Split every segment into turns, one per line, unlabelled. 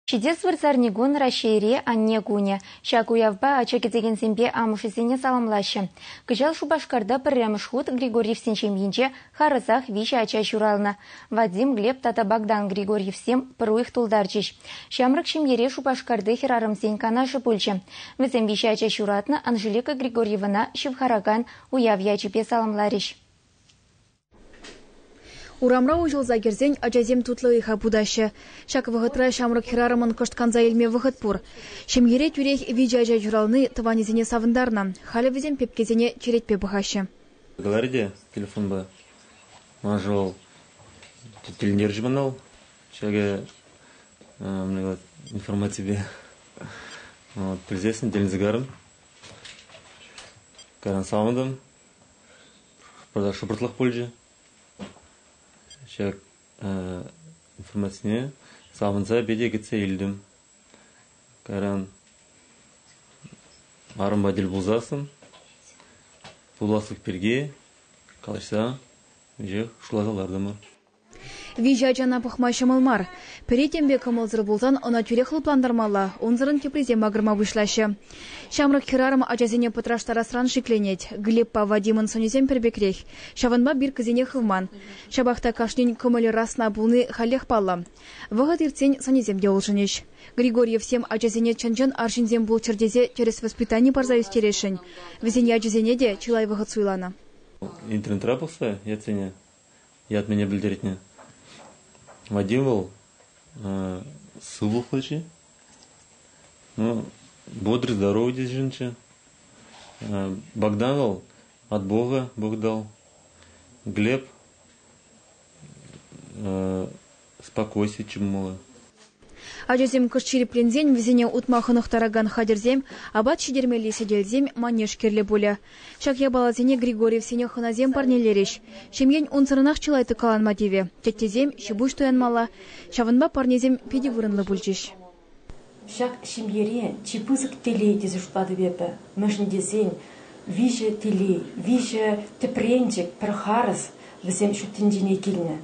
Ҫитес вырсарникун Раҫҫейри Анне кунӗ. Ҫак уявпа ача кӗтекенсемпе амӑшӗсене саламлаҫҫӗ. Кӑҫал Шупашкарта пӗрремӗш хут Григорьевсен ҫемйинче харӑсах виҫӗ ача ҫуралнӑ. Вадим, Глеб тата Богдан Григорьевсем пӗр уйӑх тултарчӗҫ. Ҫамрӑк ҫемьере Шупашкарти хӗрарӑмсен канашӗ пулчӗ. Вӗсем виҫӗ ача ҫуратнӑ Анжелика Григорьевана ҫывхаракан уяв ячӗпе саламларӗҫ.
Урамра уҫӑлса кӗрсен ачасем тутлӑ ыйха путаҫҫӗ. Ҫак вӑхӑтра ҫамрӑк хӗрарӑмӑн кӑшт канса илме вӑхӑт пур. Ҫемьере тӳрех виҫӗ ача ҫурални тӑванӗсене савӑнтарнӑ. Халӗ вӗсем пепкесене черетпе пӑхаҫҫӗ. Говори те
телефонпа. Ман шел, тӗлӗнтерчӗ мана вӑл. Ҫакӑ информаципе пӗлсессӗн тӗлӗнсе карӑм. Каран савӑнтӑм. шӑпӑртлах пулчӗ ҫав информацине савӑнса пете кӗтсе илтӗм кайран арӑмпа тӗл пулсассӑн пуласлӑх пирки калаҫса веҫех шутласа лартӑмӑр
Виҫӗ ачана пӑхма ҫӑмӑл мар. Пӗри темпе кӑмӑлсӑр пулсан ӑна тӳрех лӑплантармалла, унсӑрӑн теприсем макӑрма пуҫлаҫҫӗ. Ҫамрӑк хӗрарӑм ачасене пӑтраштарасран шикленет. Глебпа Вадимӑн сӑнӗсем пӗр пекрех. Ҫавӑнпа биркӑсене хывман. Ҫапах та кашнин кӑмӑлӗ расна пулни халех паллӑ. Вӑхӑт иртсен сӑнӗсем те улшӑнӗҫ. Григорьевсем ачасене чӑн-чӑн арҫынсем пулччӑр тесе тӗрӗс воспитани парса ӳстересшӗн. Вӗсен ячӗсене те чылай вӑхӑт суйланӑ. Интернетра
пӑхса ятсене ятнине пӗлтеретне. Вадим вӑл сывлӑхлӑ-ши? Ну, бодрый, здоровый ҫынччӗ. Богдан вӑл от Бога Бог дал. Глеб Спокойся, Чумула. Ачасем
кӑшт ҫирӗпленсен вӗсене утма хӑнӑхтаракан хатӗрсем, апат ҫитермелли сӗтелсем манеж кирлӗ пулӗ. Ҫак япаласене Григорьевсене хӑнасем парнелерӗҫ. Ҫемьен унсӑрӑнах чылай тӑккаланма тивӗ, теттесем ҫипуҫ туянмалла, ҫавӑнпа парнесем питӗ вырӑнлӑ пулчӗҫ. Ҫак
ҫемьере чи пысӑк телей тесе шутлатӑп эпӗ, мӗншӗн тесен виҫӗ телей, виҫӗ тӗпренчӗк, пӗр харӑс вӗсем ҫут тӗнчене килнӗ.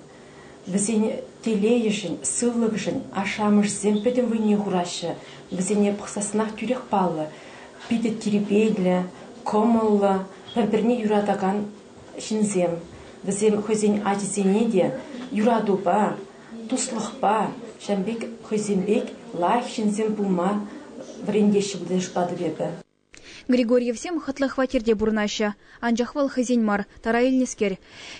Вӗсен телейӗшӗн, сывлӑхӗшӗн ашшӗ-амӑшӗсем пӗтӗм вӑйне хураҫҫӗ, вӗсене пӑхсассӑнах тӳрех паллӑ. Питӗ тирпейлӗ, кӑмӑллӑ, пӗр-пӗрне юратакан ҫынсем. Вӗсем хӑйсен ачисене те юратупа, Туслӑхпа, ҫавӑн пек хӑйсем пек лайӑх ҫынсем пулма вӗрентеҫҫӗ пултарӑшпатӑп эпӗ. Григорьевсем
хӑтлӑ хваттерте пурӑнаҫҫӗ, анчах вӑл хӑйсен мар, тара илнӗскер.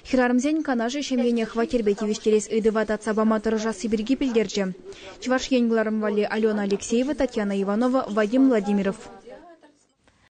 Хӗрарӑмсен канашӗ ҫемьене хваттерпе тивӗҫтерес ыйтӑва татса пама тӑрӑшасси пирки пӗлтерчӗ Чӑваш Ен кӑларӑм валли Алена Алексеева, Татьяна Иванова, Вадим Владимиров.